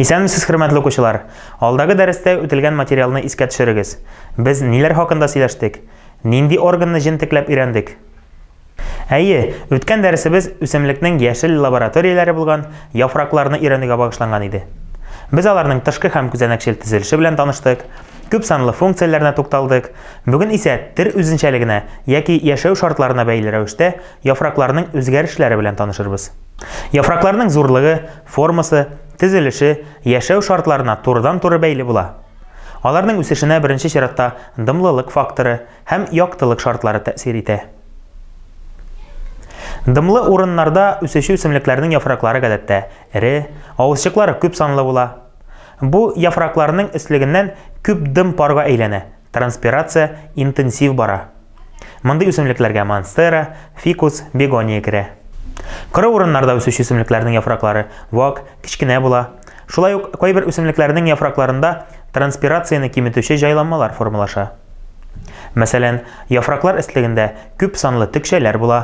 Исәнмесез, хөрмәтле укучылар! Алдагы дәрестә үтелгән материалны искә төшерегез. Без ниләр хакында сөйләштек? Нинди органны җентекләп өйрәндек? Әйе, үткән дәресебез үсемлекнең яшел лабораторияләре булган яфракларны өйрәнүгә багышланган иде. Без аларның тышкы һәм күзәнәкчел төзелеше белән таныштык, күп санлы функцияләренә тукталдык. Бүген исә төр үзенчәлегенә яки яшәү шартларына бәйле рәвештә яфракларның үзгәрешләре белән танышырбыз. Яфракларның зурлыгы, Формасы, төзелеше, яшәү шартларына турыдан-туры бәйле була. Аларның үсешенә беренче чиратта дымлылык факторы һәм яктылык шартлары тәэсир итә. Дымлы урыннарда үсүче үсемлекләрнең яфраклары гадәттә эре, авызчыклары күп санлы була. Бу яфракларның өслегеннән күп дым парга әйләнә Транспирация интенсив бара. Мондый үсемлекләргә монстера, фикус, бегония керә. Коры урыннарда үсүче үсемлекләрнең яфраклары вак, кечкенә була. Шулай ук кайбер үсемлекләрнең яфракларында транспирацияне киметүче җайланмалар формалаша. Мәсәлән, яфраклар эслегендә күп санлы текчәләр була,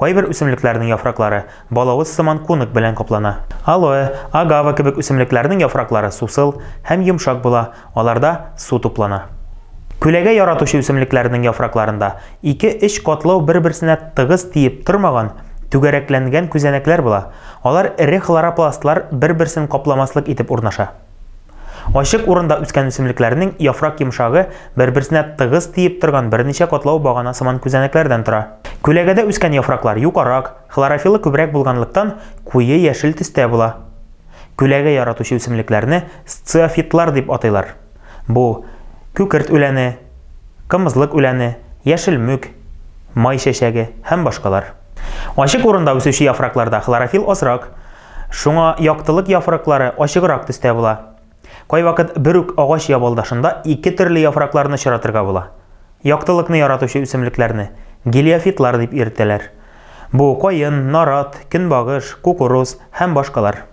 Кайбер үсемлекләрнең яфраклары балавыз сыман кунак белән каплана. Алоэ, агава кебек үсемлекләрнең яфраклары сусыл һәм йомшак була, аларда су туплана. Күләгә яратучы үсемлекләрнең яфракларында ике-өч катлау бер-берсенә тыгыз тиеп тормаган, түгәрәкләнгән күзәнәкләр була, алар эре хлоропластлар бер-берсен капламаслык итеп урнаша. Ачык урында үскән үсемлекләрнең яфрак йомшагы бер-берсенә тыгыз тиеп торган берничә катлау багана сыман күзәнәкләрдән тора. Күләгәдә үскән яфраклар юкарак, хлорофиллы күбрәк булганлыктан, куе яшел төстә була. Күләгә яратучы үсемлекләрне сциофитлар дип атыйлар. Бу, күкерт үләне, кымызлык үләне, яшел мүк, май чәчәге һәм башкалар. Ачык урында үсүче яфракларда хлорофилл азрак, Шуңа яктылык яфраклары ачыграк төстә була. Кайвакыт бер үк агач ябалдашында ике төрле яфракларны очратырга була. Яктылыкны яратучы үсемлекләрне гелиофитлар дип йөртәләр. Бу каен, нарат, көнбагыш, кукуруз һәм башкалар.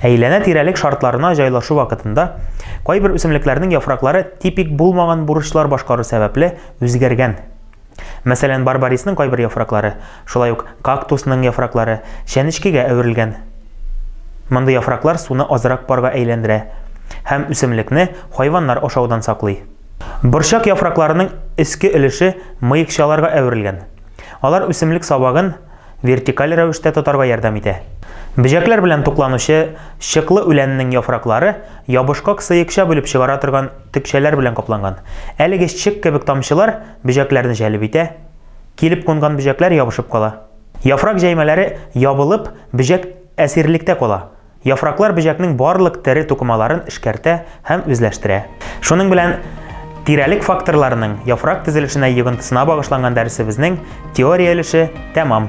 Әйләнә-тирәлек шартларына җайлашу вакытында кайбер үсемлекләрнең яфраклары типик булмаган бурычлар башкару сәбәпле үзгәргән. Мәсәлән, барбарисның кайбер яфраклары, шулай ук кактусның яфраклары чәнечкегә әверелгән. Мондый яфраклар суны азрак парга әйләндерә һәм үсемлекне хайваннар ашаудан саклый. Борчак яфракларының өске өлеше мыекчаларга әверелгән. Алар үсемлек сабагын вертикаль рәвештә тотарга ярдәм итә. Бөҗәкләр белән тукланучы чыклы үләннең яфраклары ябышкак сыекча бүлеп чыгара торган төкчәләр белән капланган. Әлеге чык кебек тамчылар, бөҗәкләрне җәлеп итә, килеп кунган бөҗәкләр ябышып кала. Яфрак җәймәләре ябылып, бөҗәк әсирлектә кала. Яфраклар бөҗәкнең барлык тере тукымаларын эшкәртә һәм үзләштерә. Шуның белән тирәлек факторларының яфрак төзелешенә йогынтысына багышланган дәресебезнең теория өлеше тәмам.